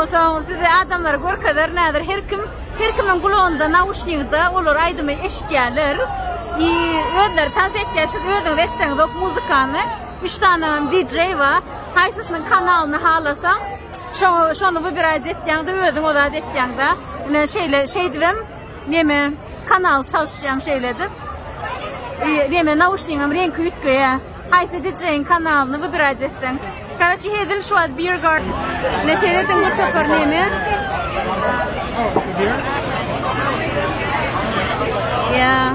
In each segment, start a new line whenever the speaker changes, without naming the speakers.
Onsoň size adamlara görkezer näder her kim her kimiň gulagynda nauşnigde olar aýdymy eşitýärler i özleri tans etýär siz özüňiz eşdeňizok muzykany üç sany DJ ba haýsysynyň kanalyny halasaň şo şony wybiraýt etýäňde özüň ozat etýäňda ine şeýle şeýdibem neme kanal çalyşýaň şeýle edip i neme nauşnigim reňki üýtgeýär. Haýsy DJ-iň kanalyny wybirać etseň. Karaçi hezil şu wagt Beer Garden. Ne seredin bu topar neme? Yeah.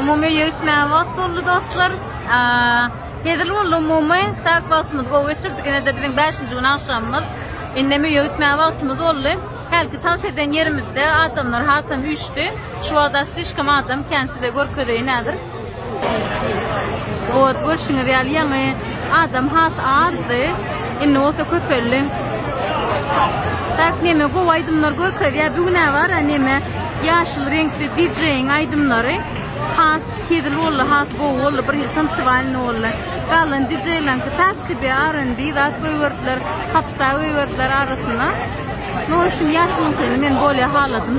Umumy ýetmän wagt boldy dostlar. Hezil boldy umumy, tak wagtymyz gowy geçirdik. Ine de biziň 5-nji gün agşamymyz. Indi mi ýetmän wagtymyz boldy. Hälki tans eden ýerimizde adamlar hasam üýşdi. Şu wagtda slişkom adam kän size görkezeýin häzir. Ot, görşüňiz ýaly, ýaňy adam has azdy, indi bolsa köpeldi. Tak neme gowy aýdymlar görkezýär. Bu gün bar neme ýaşyl reňkli DJ-iň aýdymlary has hezil boldy, has gowy boldy, bir hil tansiwalny boldy. Galan DJ-laňky tak sebe R&B zat goýberdiler, hapsa goýberdiler arasyna. Nowşin ýaşylyňkyny men bolýa haladym.